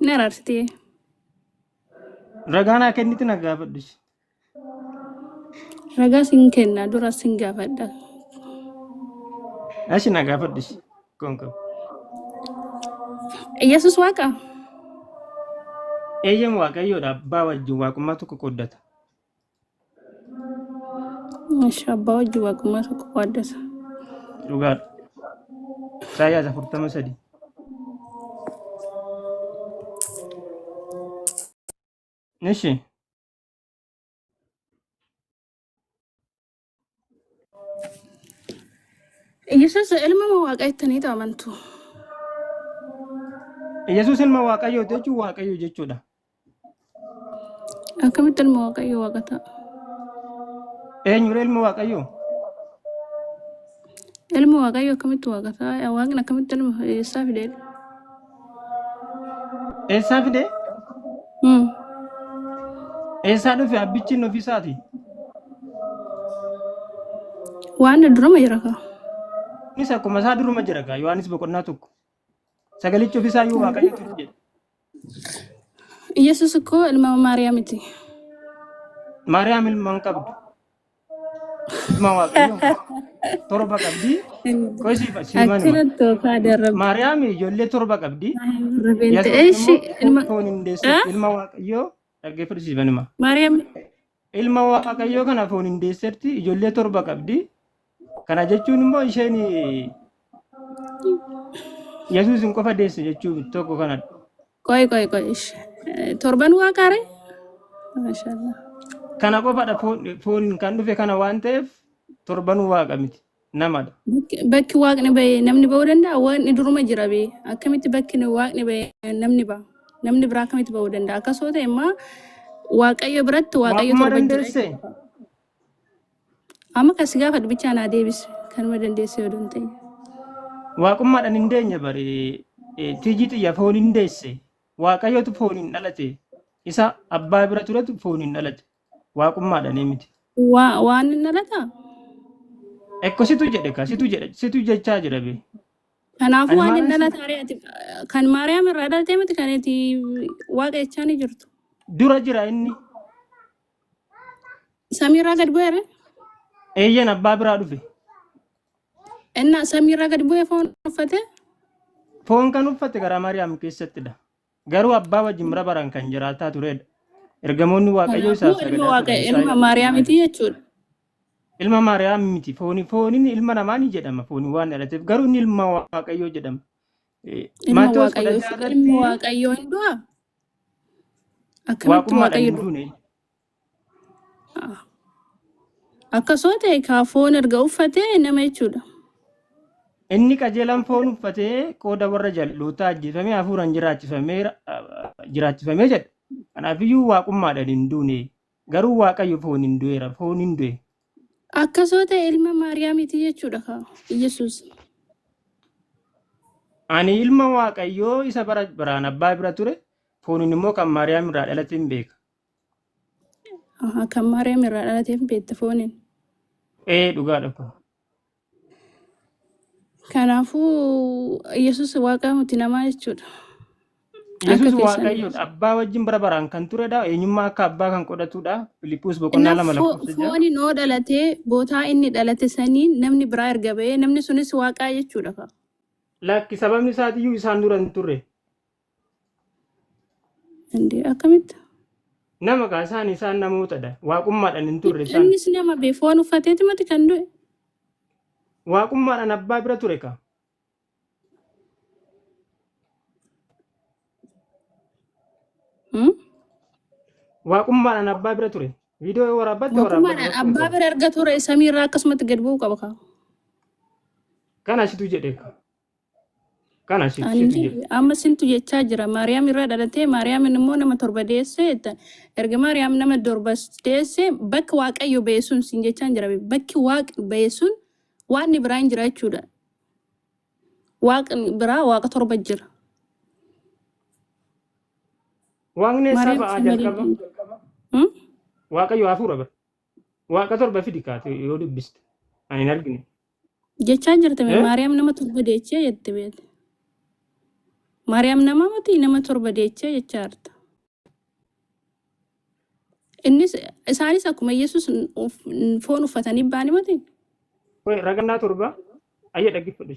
Hin araarsite. Ragaa naa kenniti na gaafadhus. Ragaa sin kenna dura sin gaafadha. Ashi na gaafadhus. Kun kun. Yesus waaqa. Eeyyam waaqayyoodha abbaa wajjin waaqummaa tokko qooddata. Masha abbaa wajji waaqummaa tokko waaddasa. Dhugaadha. Isaayyaas afurtama sadii. Ishi. Yesus ilma moo waaqa jettanii amantu? Yesus ilma Waaqayyoo jechuun Waaqayyo jechuudha. Akkamitti ilma waaqayyo waaqa ta'a? Eenyudha ilma Waaqayyoo? Ilmi Waaqayyo akkamitti waaqa ta'a? Waaqni akkamitti ilma eessaa fide? Eessaa fide? Hmm. Eessaa dhufe abbichi inni ofiisaati? Waan duruma jira kaa. Innis akkuma isaa duruma jira kaa Yohaannis boqonnaa tokko. Sagalichi ofisaa iyyuu Waaqayyo ture jedhe. Yesus koo ilma Maariyaamiti. Maariyaam ilma hin qabdu. Ilma Waaqayyoo hin qabdu. Torba qabdi. Qoy siif siif manuma. Achirratti oofaa darabbi. Maariyaam ijoollee torba qabdi. Rabeen Yesus ta'e ishii immoo ilma. foon hin deessu. Eh? Ilma Waaqayyoo dhaggeeffadhu siif manuma. Maariyaam Ilma Waaqayyoo kana fooniin deesserti, ijoollee torba qabdi. Kana jechuun immoo isheen Yesuusin qofa deesse jechuu miti tokko kanadha. Qoy qoy qoy. ish. Eh, Torban waaqaare? Mashallah. Kana qofadha foon- fooniin kan dhufe kana waan ta'eef torbanuu waaqa miti. namadha. Bakki bakki waaqni ba'e namni ba'uu danda'a? Waaqni duruma jira bee. Akkamitti bakki nu- waaqni ba'e namni ba'a? Namni biraa akkamitti ba'uu danda'a? Akkas yoo ta'e immoo waaqayyo biratti waaqayyo Waaqummaa torba jira dandeesse jechuudha. Amma kan si gaafadhu bichaa naa deebisi. Kanuma dandeesse yoo danda'e. waaqummaadhaan hin deenye bari eh, tiyyi xiyya foon hin deesse waaqayyootu foon hin dhalate isa abbaa bira turetu foon hin dhalate Waaqummaadhaan miti. Waa waan hin dhalataa? Ekko situ jedhe ka situ jedhe situ jechaa jira be. Kanaafuu Ani waan hin maaliin si dhalataa re'ati kan Maariyaam irraa dhalatee miti kan itti waaqa jechaa ni jirtu. dura jira inni Samiirraa gad bu'eera. eeyyan abbaa biraa dhufe. Innaa samiirraa gad bu'ee foon uffate. Foon kan uffate garaa Maariyaam keessattidha. Garuu abbaa wajjin bara baraan kan jiraataa turedha. Ergamoonni Waaqayyoo isaaf Kanaafuu ilma sagadaa turan. Waaqayyo Isaa ilma Maariyaam miti jechuudha. Ilma Maariyaam miti. Fooni, fooniin ilma namaa ni jedhama. Fooni waan dhalateef. Garuu inni ilma Waaqayyoo jedhama. Eh, Ilma Maatewos kudha Waaqayyoo ja'a ilmi irratti Waaqayyoo hin du'a? Akkamitti waaqummaadhaan Waaqayyo hin du'a? duune. Akkasoo ta'e kaa foon erga uffate nama jechuudha. Inni qajeelaan foon uffatee qooda warra jal'ootaa ajjeefamee hafuuraan jiraachifamee jedha. Kanaafiyyuu waaqummaadhaan hin duune. Garuu Waaqayyo foon hin du'eera. Foon hin du'e. Akkasoo ta'e ilma Maariyaamiti jechuudha kaa Yesuus. Ani ilma Waaqayyoo isa bara baraan abbaa bira ture. Fooniin immoo kan Maariyaam irraa dhalate hin beeka. Aha, kan Maariyaam irraa dhalateef beekta fooniin. Ee dhugaadha kun. Kanaafuu Yesus waaqaa miti namaa jechuudha. Akka Yesus keessan Waaqayyoodha. Yesus. Abbaa wajjin bara baraan kan turedha. Eenyummaa akka abbaa kan qodatudha. Filiphus boqonnaa Kanaaf lama fo- lakkoofsa ja'a. fooni noo dhalatee bootaa inni dhalate saniin namni biraa erga ba'ee namni sunis waaqaa jechuudha. ka. Lakki sababni isaatiyyuu isaan dura hin turre. Indi akkamitti? Nama kaa isaan isaan namootadha. Waaqummaadhaan hin turre isaan. Innis nama bee foon uffateeti miti kan du'e. Waaqummaadhaan abbaa bira ture kaa. Hmm? Waaqummaadhaan abbaa bira ture. Viidiyoo waraabbatte waraabbatte Waaqummaadhaan rakkoo hin abbaa qabu. bira erga ture samiirraa akkasumatti gad bu'uu qaba kaa. Kana situ jedhe kaa. Kana si- situ Ani jira. amma sintu jechaa jira maariyaam irraa dhalatee maariyaamin immoo nama torba deesse jetta. erga maariyaam nama torba deesse bakka waaqayyo ba'e sun sin jechaan jira bakki waaq ba'e sun waaqni biraa hin jira jechuudha waaqni biraa waaqa torba jira Waaqni eessaa maariyaam ba'aa sin malee jalqaba? Hmm? Waaqayyo hafuura bara. Waaqa torba fidi kaate yoo dubbiste. Ani hin argine. Jechaa jirti mee Eh? Maariyaam nama torba deechee jette beete. Maariyaam nama miti nama torba deechee jechaa jirta. Innis isaanis akkuma Yesuus foon uffatanii ba'anii miti. Qoy ragannaa torba ayya dhaggeeffadhu.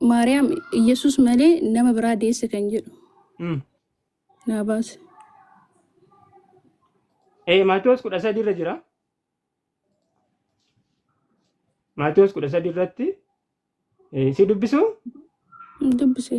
Maariyaam Iyyasuus malee nama biraa deesse kan jedhu Mm. naa baase. Ee Maatewos kudha sadii irra jira. Maatewos kudha sadii irratti eh, si dubbisuu Dubbise.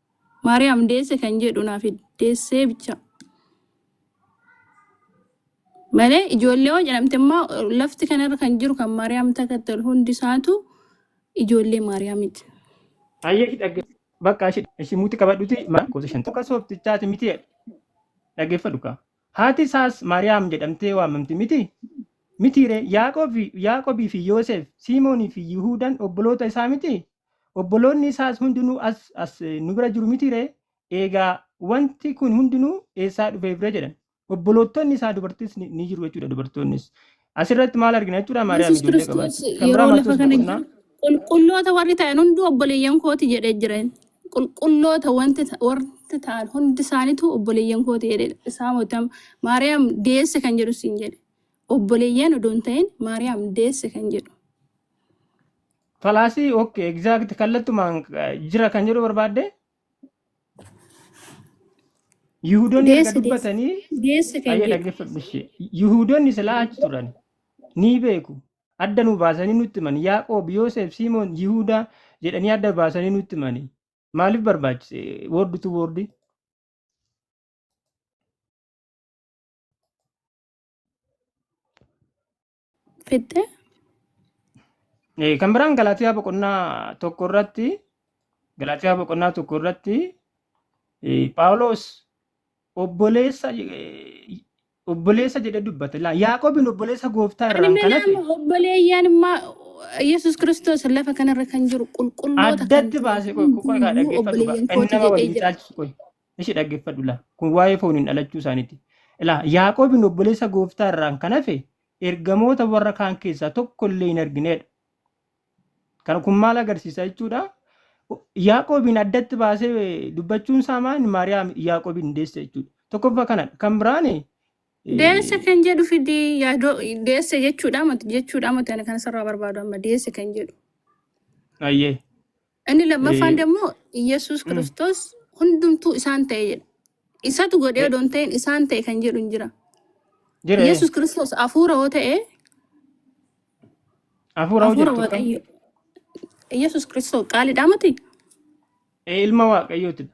Maariyaam deesse kan jedhu naaf deessee bicha malee ijoollee yoo jedhamte immoo lafti kanarra kan jiru kan Maariyaam takkatte ol hundi isaatu ijoollee Maariyaamiti. Ayyee ishii dhagge bakka ishii ishii muuti qabadhuti maa gosa shan tokko sooftichaati miti jedhe dhaggeeffadhu kaa. Haati isaas Maariyaam jedhamtee waamamti miti mitiiree Yaaqoobii fi Yooseef Siimoonii fi Yihuudaan obboloota isaa miti Obboloonni isaas hundinuu as, as nu bira jiru mitii ree? Eegaa wanti kun hundinuu eessaa dhufeef ree? jedhan. Obboloottonni isaa dubartis ni, ni jiru jechuudha dubartoonnis. Asirratti maal argina jechuudha Maariyaam Yesus ijoollee Kiristoos qabaachuu. Kan biraa yeroo lafa Maatewos kana boqonnaa jiru qulqulloota warri ta'an hunduu obboleeyyan kooti jedhee jira. inni. Qulqulloota wanti ta- warri ta'an hundi isaaniitu obboleeyyan kooti jedhee jira. Isaa mootam Maariyaam deesse kan jedhu siin jedhe. Obboleeyyan odoo hin ta'in Maariyaam deesse kan jedhu. Falaasii ok exact kallattumaan eh, jira kan jedhu barbaadde Yihuudonni erga Deessi deessi dubbatanii deessi kan ayyee jedhu. dhaggeeffadhu ishee Yihuudonni silaa achi turan ni beeku adda nu baasanii nutti himan Yaaqoob Yoosef Simoon Yihuudaa jedhanii adda baasanii nutti himani maaliif barbaachise woordi tu woordi fixxe. Eh, Kan biraan Galaatiyaa boqonnaa tokko irratti Galaatiyaa boqonnaa tokko irratti eh, Phaawulos obboleessa eh, obboleessa jedhee dubbate. Laa- Yaaqoobiin obboleessa gooftaa Ani irraan kan hafe milaama obboleeyyaan immaa Yesuus Kiristoos lafa kanarra kan jiru qulqulloota kan addatti ta'an baasee qoy qoy kaa hundumuu dhaggeeffatu gaa obboleeyyan inni kooti nama jedhee waliin jira. caalchisu qoy. Ishi dhaggeffadhu la. Kun waa'ee fooniin dhalachuu isaaniiti. La. Yaaqoobin obboleessa gooftaa irraan kan hafe ergamoota warra kaan keessaa tokko illee hin argineedha. Kana kun maal agarsiisa jechuudha? Yaaqoobiin addatti baasee dubbachuun isaa maal Maariyaam Yaaqoobiin deesse jechuudha. Tokkoffaa kanadha. Kan biraan Deesse kan jedhu fidi yaadoo deesse jechuudha mati jechuudha mati ani kan sirraa barbaadu amma deesse kan jedhu. ayyee Inni lammaffaan Eh, immoo Iyyasuus mm, Kiristoos hundumtuu isaan ta'e jedha. Isatu godhee eh, odoo hin ta'in isaan ta'e kan jedhu hin jira. Jira eh. Iyyasuus Kiristoos hafuura yoo ta'e Hafuura hoo hafuura jettu kam? Waaqayyo. Iyyasuus Kiristoos qaaliidhaa miti? Eh, Ilma Waaqayyootidha.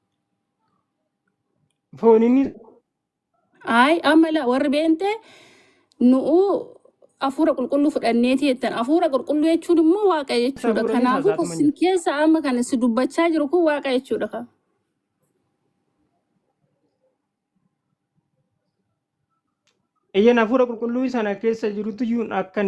Fooniin Ayi amma la warri beente nu'u hafuura qulqulluu fudhanneeti jettan. Hafuura qulqulluu jechuun immoo waaqa isa jechuudha. fuudhanii Kanaafuu kan saasaatuma sin jiru. keessa amma kan si dubbachaa jiru kun waaqa jechuudha. ka. Eyyeen hafuura qulqulluu sana keessa jirutu iyyuu akkan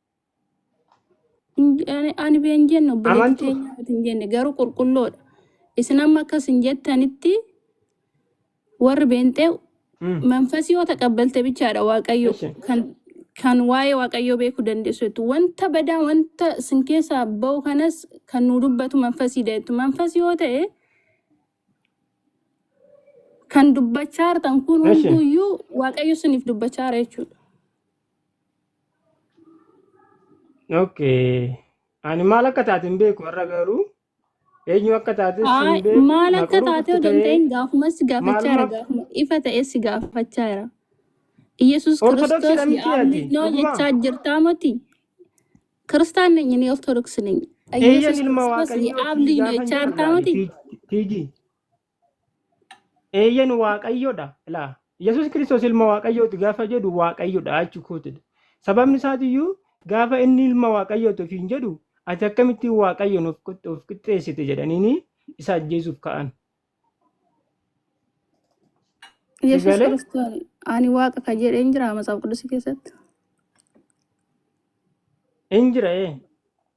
Ani ani been jenne obboleetti Amantu. teenyaa miti hin jenne garuu qulqulloodha. Isin amma akkas hin jettanitti warri beenxee Mm. manfasii yoo taqabbalte bichaadha waaqayyo Eshi. kan kan waa'ee waaqayyoo beekuu dandeessu jettu wanta badaa wanta sin keessaa ba'u kanas kan nu dubbatu manfasii jettu manfasii yoo ta'e kan dubbachaa jirtan kun Eshi. hunduyyuu waaqayyo siniif dubbachaa jira jechuudha. Okay. Ani maal akka taate hin beeku har'a garuu eenyu akka taates Aa, hin beeku maal na akka taate quruuftu odoo hin ta'ee ta'in gaafumas si gaafachaa jira maalumaaf gaafuma ifa ta'es si gaafachaa jira Yesuus Kiristoos ortodoksiidha miti ati ye'aamnoo dhugumaa jechaa jirtaa moti Kiristaan neenyi ni Ortodoks neenyi eeyyan Yesuus ilma Kiristoos waaqayyooti ye'aamnii no gaafan jechaa jirtaa jiraadha ani moti tiiji Eeyyen waaqayyodha. Ilaa Yesuus Kiristoos ilma waaqayyooti gaafa jedhu waaqayyodha achi kootidha. Sababni isaatiyyuu gaafa inni ilma waaqayyooti ofiin jedhu ati akkamitti waaqayyoon of qixxe- of qixxeessite jedhaniini isa ajjeesuuf ka'an. Si Yesuus galee Kiristoos ani waaqa kan jedhe hin jiraa macaaf qudusii keessatti? hin jira ee.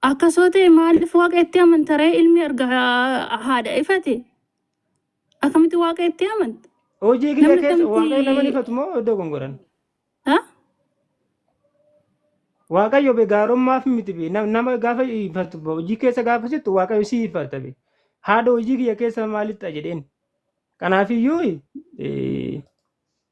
Akka soo ta'e maaliif waaqa itti amanta ree ilmi erga ha- haadha ifate akkamitti waaqa itti amanta? Hojii kiyya Namni keessa akkamitti- waaqayyo nama ifatu moo iddoo gongoran? Ha? Waaqayyo be gaarummaaf miti be nam- nama gaafa ifatu be hojii keessa gaafa sittu waaqayyo si ifata be. Haadha hojii kiyya keessa maalitti jedheen. Kanaafiyyuu eh,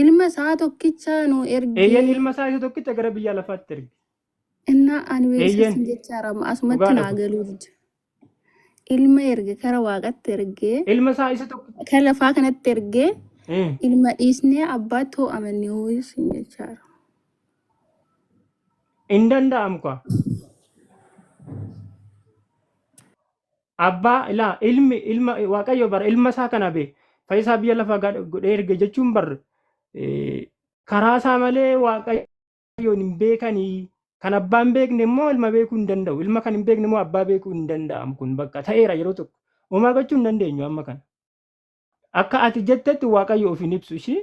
Ilma isaa tokkicha nu ergi. Eeyyen ilma isaa isa tokkicha gara biyya lafaatti erge. Innaa ani beeksisa Eeyyen. sin jechaa rama asumatti Dhugaadha naa kun. galuu dida. Ilma erge kara waaqatti ergee Ilma isaa isa tokkicha. kan lafaa kanatti ergee Eh, ilma dhiisnee abbaatti hoo amanne hoo sin jechaa rama. Hin danda'amu kaa. Abbaa ilaa ilmi ilma waaqayyo bara ilma isaa kana be fayyisaa biyya lafaa gad- godhee erge jechuun bar eh, karaa isaa malee waaqayyoon hin beekanii kan abbaa hin beekne immoo ilma beekuu hin danda'u ilma kan hin beekne immoo abbaa beekuu hin danda'amu kun bakka ta'eera yeroo tokko homaa gochuu hin dandeenyu amma kana akka ati jettetti waaqayyo of hin ibsu ishii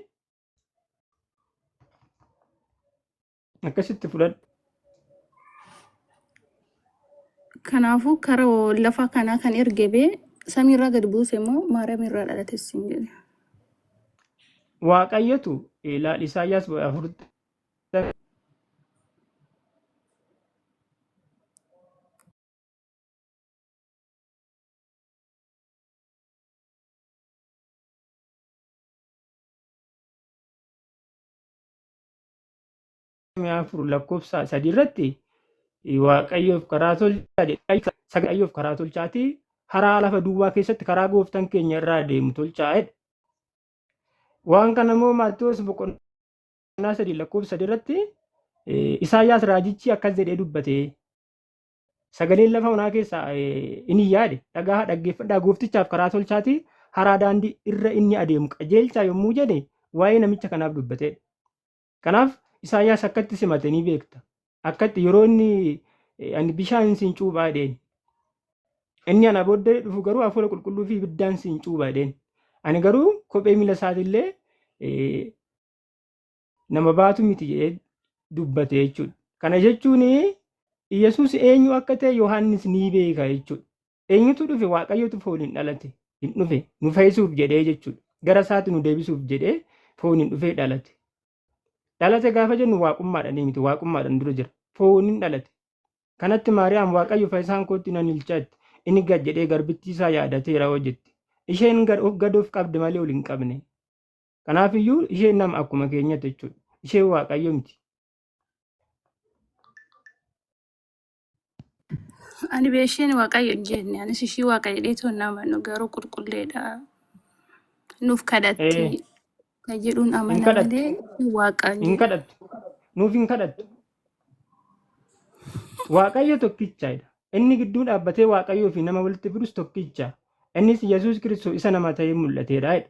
akkasitti fudhadhu Kanaafuu kara lafa kanaa kan erge bee samiirraa gad buuse immoo maaramiirraa dhalate siin jedhe. waaqayyotu ilaal isaayyaas afurta afur lakkoofsa sadi irratti waaqayyoof karaa tolchaa jedha. Waaqayyoof karaa tolchaati haraa lafa duwwaa keessatti karaa gooftan keenya irraa deemu tolchaa jedha. Waan kana immoo Maatewos boqonnaa sadii lakkoofsa sadi irratti Isaayyaas raajichi akkas jedhee dubbate. Sagaleen lafa onaa keessaa inni yaade dhagahaa dhaggeeffadhaa gooftichaaf karaa tolchaatii haraa daandii irra inni adeemu qajeelchaa yommuu jedhe waa'ee namicha kanaaf dubbatee. Kanaaf Isaayyaas akkatti simate ni beekta. Akkatti yeroo inni ani bishaan siin cuubaa jedheen. Inni ana booddee dhufu garuu hafuura qulqulluu fi ibiddaan siin cuubaa jedheen. Ani garuu kophee miila isaatiillee nama baatu miti jedhee dubbate jechuudha. Kana jechuun Yesuus eenyu akka ta'e Yohaannis ni beeka jechuudha. Eenyutu dhufe Waaqayyootu fooniin dhalate hin dhufe nu fayyisuuf jedhee jechuudha. Gara isaatti nu deebisuuf jedhee fooniin dhufee dhalate. Dhalate gaafa jennu waaqummaadhaan miti waaqummaadhaan dura jira. Fooniin dhalate. Kanatti Maariyaam Waaqayyo fayyisaan kootti nan ilchaatti inni gad jedhee garbittii isaa yaadateera hoo jette. Isheen gad of qabde malee ol hin qabne. Kanaafiyyuu isheen nama akkuma keenyatti jechuudha. Isheen waaqayyo miti. Ani beesheen waaqayyo hin jenne anis ishii waaqayyo dheetoo hin amanu garuu qulqulleedha nuuf Ee, kadhatti kan jedhuun hin amana kadhattu. malee ishii waaqa hin Hin jedhu. kadhattu. Nuuf hin kadhattu. Waaqayyo tokkichaadha. Inni gidduu dhaabbatee waaqayyoo fi nama walitti fidus tokkicha. Innis Yesuus Kiristoos isa nama ta'ee mul'ateedha. jedha.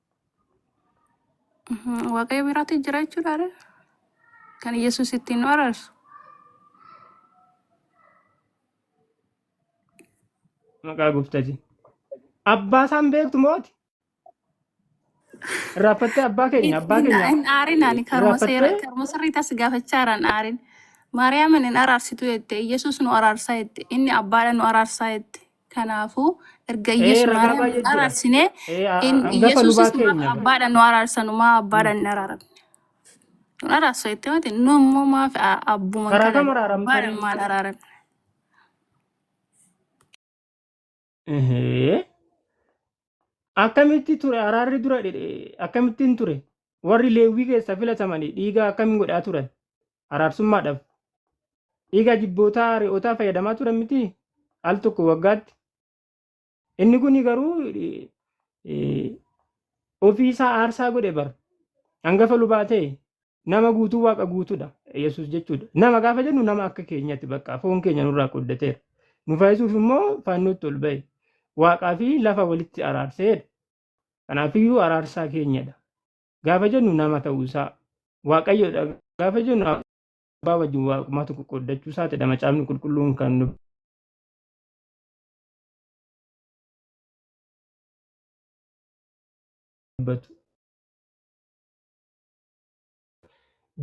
Mhm, Waaqayyo biraatti jira jechuudha ree? Kan Yesuus ittiin nu araarsu. Maqaa gooftaati. Abbaa isaan beektu mooti. Irraaffattee abbaa keenya abbaa Hin keenya hin aarin ani karuma seera irraaffattee karuma sirrii tas gaafachaa irraan aarin. Maariyaamin hin araarsitu jette. Yesuus nu araarsaa jette. Inni abbaadha nu araarsaa jette. Kanaafuu erga Ee, Iyyesuus ragaa Maariyaam baay'ee jira. araarsinee Ee, a- a- in hangafa Iyyesuusis lubaa maaf keenya. abbaadhaan nu araarsan maa abbaadhaan hin araaramne? Nun araarsu jettee miti nu immoo maaf a- abbuman Karaa kana kam araaramta abbaadhaan ree? maal araaramne? Ehee. Akkamitti ture araarri dura dhedhe- akkamittiin ture? Warri Leewwii keessa filatamanii dhiiga akkamiin godhaa turan? araarsummaadhaaf dhiiga jibbootaa re'ootaa fayyadamaa turan miti al tokko waggaatti. Inni kun garuu ofii isaa aarsaa godhe bar hangafa lubaa ta'e nama guutuu waaqa guutuudha yesus jechuudha. Nama gaafa jennu nama akka keenyatti bakka foon keenya nurraa qooddateera. Nu fayyisuuf immoo faannootti ol ba'e waaqaa fi lafa walitti araarseedha. Kanaafiyyuu araarsaa keenyadha. gaafa jennu nama ta'uu isaa waaqayyoodha gaafa jennu abbaa wajjin waaqummaa tokko qooddachuu isaatidha macaafni qulqulluun kan nu dubbatu.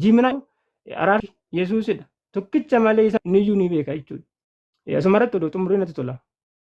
Jiminaa araarri Yesuusidha. Tokkicha malee isa niyyuu ni beeka jechuudha. Asuma irratti oduu xumurri natti tola.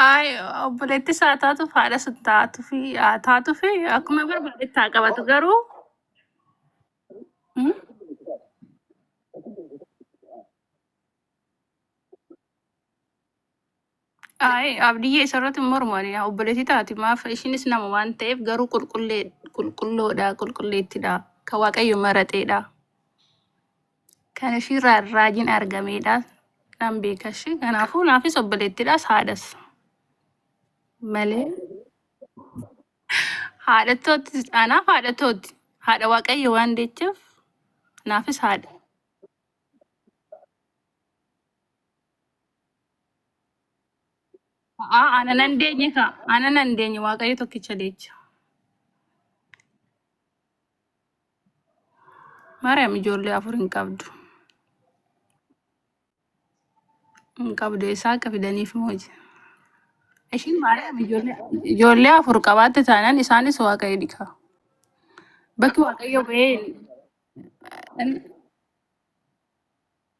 Ay, obboleetti isaa taatuuf haadha sun taatuuf haa taatuuf akkuma barbaadetti haa qabatu garuu mm, Ayi abdiyyee isarratti hin mormani yaa obboleetii taati maaf ishinis nama waan ta'eef garuu qulqullee qulqulloodha qulqulleettidha kan waaqayyo marateedha kan ishiirraa raajiin argameedha nan beeka ishee kanaafuu naafis obboleettidhas haadhas malee haadha tootti anaaf haadha tootti haadha waaqayyo waan deecheef naafis haadha A'aa ana nan deenye ka. Ana nan deenye waaqayyo tokkicha deecha. Maariyaam ijoollee afur hin qabdu. Hin qabdu eessaa akka fidaniif mooji. Ishiin Maariyaam ijoollee ijoollee afur qabaatte taanaan isaanis waaqayyo dhika. Bakki waaqayyo ba'ee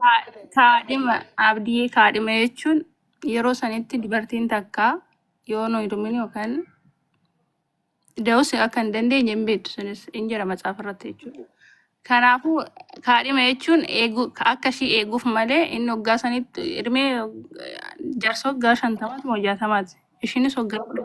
Kaa- Kaadhima abdii kaadhima jechuun yeroo sanitti dubartiin takka yoo nu hidhumin yookaan da'us akka hin dandeenye hin beektu sunis hin jira macaafa irratti jechuudha. Kanaafuu kaadhima jechuun eeguu akka ishii eeguuf malee inni waggaa sanitti hirmee jarsa waggaa shantamaati moo jaatamaati ishiinis waggaa kudha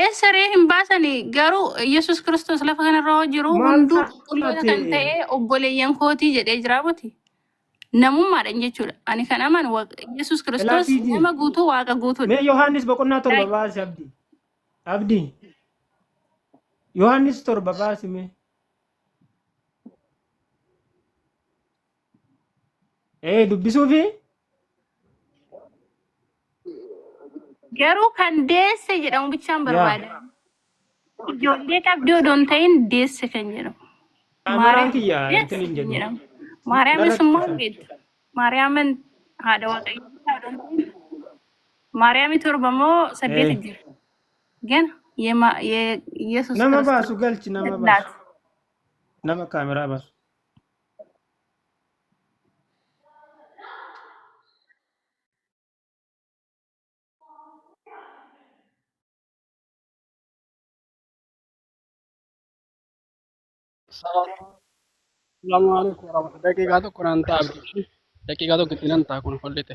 Eessa ree hin baasani garuu Yesus Kiristoos lafa kanarra yoo jiru Maal hunduu taate? qulqulloota kan ta'e obboleeyyan kootii jedhee jira miti. Namummaadhaan jechuudha. Ani kan amanu Waaq- Yesus Kiristoos Ilaa nama guutuu waaqa guutuudha. Mee Yohaannis boqonnaa torba Right. baasi abdi. Abdi. Yohaannis torba baasi mee. Ee dubbisuu fi Garuu kan deesse jedhamu bichaan yaa barbaada. Ijoollee qabdii odoo hin ta'in deesse kan jedhamu. kaameraan Maariyaam kiyya deesse intin hin kan jedhu jedhamu. Maariyaamis narratti immoo fakkaata. beektu. Maariyaamin haadha waaqayyoo isaa odoo hin ta'in Maariyaamii torba moo saddeeti Ee jira. Gana yema- ye- Yesus nama Kiristoos baasu galchi nama baasu lat nama kaameraa baasu. Assalamu alaikum warahmatullahi daqiiqaa tokko naan ta'a abdii daqiiqaa tokko itti nan ta'a kun follite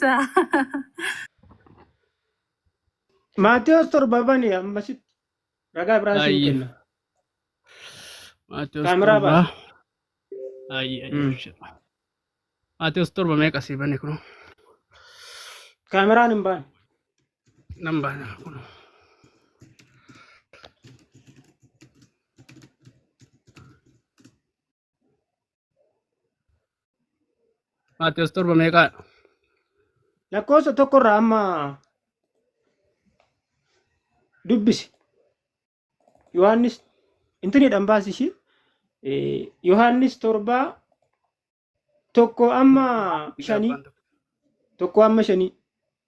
Sa- Maatewos torba bani ammasitti ragaa biraa siin Ayyi. kenna. Maatewos Kaameraa torba. baasi. Ayyi ayyi. Mm. abshir. Maatewos torba meeqa sii bane kun? Kaameraan hin baane. Nan baana kun. Maatewos torba meeqaa? Lakkoofsa tokkorraa amma dubbisi. Yohaannis intinidhaan baasi ishii. Eh, Yohaannis torbaa tokko amma shanii. Tokko amma shanii.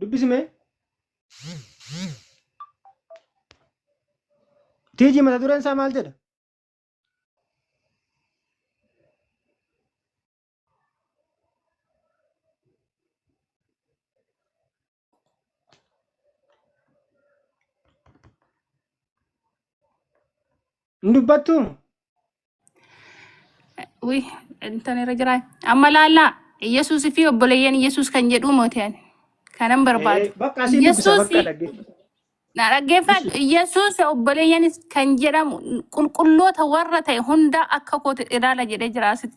dubbisi mee tiiji mata dureen isaa maal jedha hin dubbattuu Ui, intan irra jiraa. Amma laallaa Yesuus fi obboleeyyan Yesuus kan jedhuu mooti'an kanan barbaadu. Eh, Bakka asiin dubbisa Yesuus bakka dhaggeeffa. na dhaggeeffadhu Yesuus obboleeyyanis kan jedhamu qulqulloota warra ta'e hundaa akka kooti ilaala jedhee jira asitti.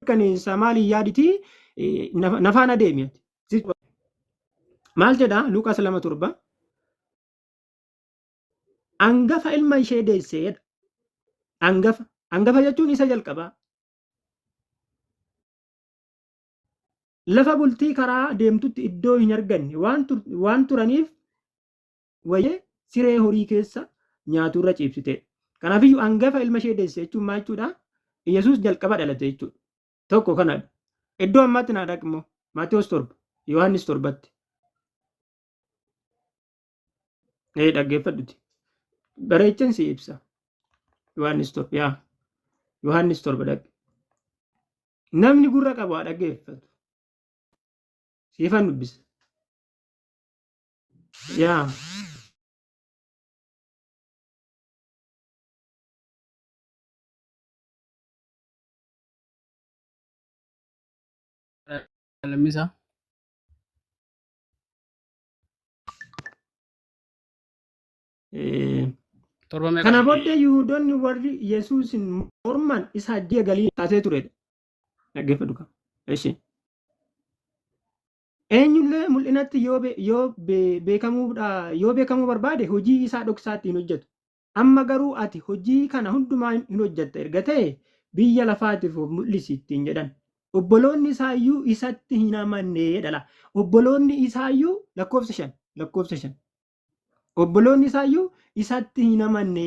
mirkaneessa maaliin yaaditi nafaan adeemi maal jedha luqas lama torba angafa ilma ishee deesseedha angafa angafa jechuun isa jalqabaa lafa bultii karaa deemtutti iddoo hin arganne waan turaniif wayee siree horii keessa nyaatu irra ciibsite. Kanaaf iyyuu hangafa ilma ishee deesse jechuun maal jechuudha? Yesuus jalqaba dhalate jechuudha. Tokko kanadha. Iddoo ammaatti naa dhaqi immoo Maatewos torba, Yohaannis torbatti. Ee dhaggeeffadhuti. Bareechan si ibsa. Yohaannis torba yaa. Yohaannis torba dhaqi. Namni gurra qabu haa dhaggeeffatu. Siifan dubbisa. Yaa. Lammisa. Eh, Torba meeqa? Kana booddee Yihudoonni warri Yesuusin morman isa hajjii galii taasee turedha. Dhaggeeffadhu qaba. Ishee. Eenyullee mul'inatti yoo be- yoo be- beekamuudha yoo beekamuu barbaade hojii isaa dhoksaatti hin hojjetu. Amma garuu ati hojii kana hundumaa hin hin hojjetta erga ta'e biyya lafaatiif of mul'isi ittiin jedhan. Obboloonni isaayyuu isatti hin amanne jedhala. Obboloonni isaayyuu lakkoofsa shan lakkoofsa shan. Obboloonni isaayyuu isatti hin amanne.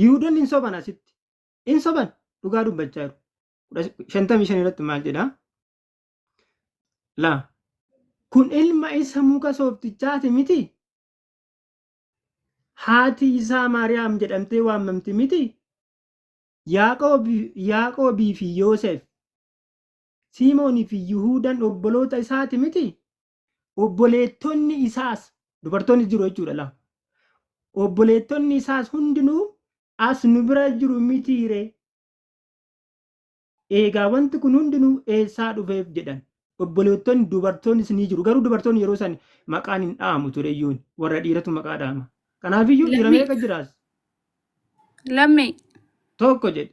Yihuudonni hin soban asitti. Hin soban dhugaa dubbachaa jiru. Shantamii shan irratti maal jedha? Laa. Kun ilma isa muka sooftichaati miti? Haati isaa Maariyaam jedhamtee waamamti miti? Yaaqoobii fi Yoosef, Siimoonii fi Yihuudaan obboloota isaati miti? Obboleettonni isaas, dubartoonnis jiru jechuudha lama. Obboleettonni isaas hundinuu as nu bira jiru mitii ree? Eegaa wanti kun hundinuu eessaa dhufeef jedhan. Obboleettonni dubartoonnis ni jiru. Garuu dubartoonni yeroo san maqaan hin dha'amu ture iyyuun. Warra dhiiratu maqaa dha'ama. Kanaafiyyuu dhiira Lammii. meeqa jiraas? Lammii. Tokko jedhe.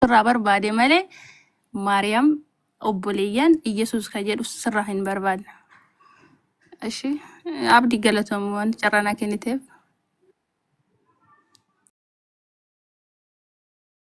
sirraa barbaade malee maariyaam obboleeyyan iyyasuus ka jedhu sirraa hin barbaadne ishi abdi galatoom waan carranaa kenniteef